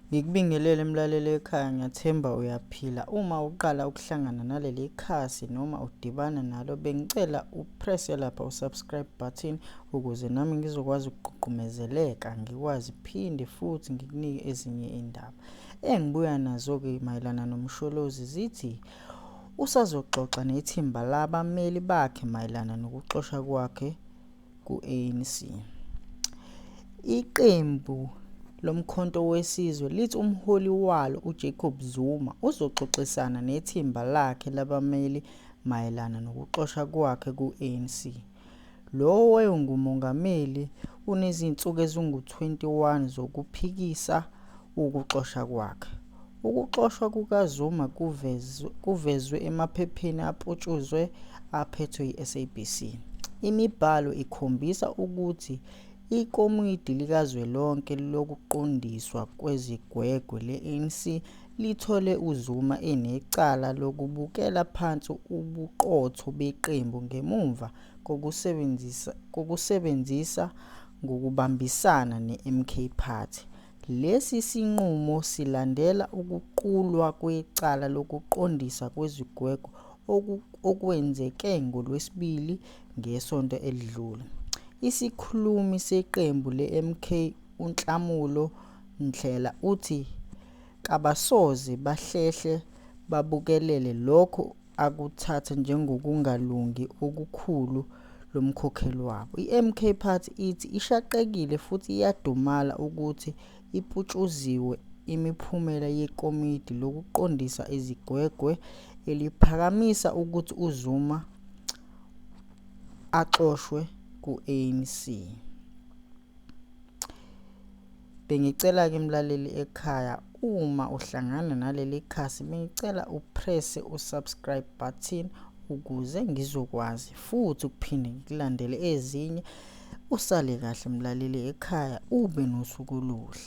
Ngikubingelele mlaleli ekhaya ngiyathemba uyaphila. Uma uqala ukuhlangana naleli khasi noma udibana nalo bengicela upresse lapha usubscribe button ukuze nami ngizokwazi ukuququmezeleka ngikwazi phinde futhi ngikunike ezinye indaba. Engibuya nazo-ke mayelana nomsholozi zithi usazoxoxa nethimba labameli bakhe mayelana nokuxosha kwakhe ku-ANC. Iqembu lomkhonto wesizwe lithi umholi walo uJacob Zuma uzoxoxisana nethimba lakhe labameli mayelana nokuxosha kwakhe ku-ANC. Lo wayengumongameli unezinsuku ezingu-21 zokuphikisa ukuxosha kwakhe. Ukuxoshwa kukaZuma kuvezwe emaphepheni aputshuzwe aphethwe yiSABC. Imibhalo ikhombisa ukuthi ikomidi likazwelonke lokuqondiswa kwezigwegwe le-ANC lithole uZuma enecala lokubukela phansi ubuqotho beqembu ngemumva kokusebenzisa ngokubambisana neMK Party Lesi sinqumo silandela ukuqulwa kwecala lokuqondisa kwezigwegwe okwenzeke ngoLwesibili ngesonto elidlule. Isikhulumi seqembu leMK uNhlamulo Ndhlela uthi kabasoze bahlehle babukelele lokho akuthatha njengokungalungi okukhulu lo mkhokheli wabo. I-MK Party ithi ishaqekile futhi iyadumala ukuthi iputshuziwe imiphumela yekomidi lokuqondisa izigwegwe eliphakamisa ukuthi uZuma axoshwe ku-ANC. Bengicela-ke mlaleli ekhaya uma uhlangana naleli khasi bengicela upresse u-subscribe button ukuze ngizokwazi futhi ukuphinde ngikulandele ezinye usale kahle mlaleli ekhaya ube nosuku oluhle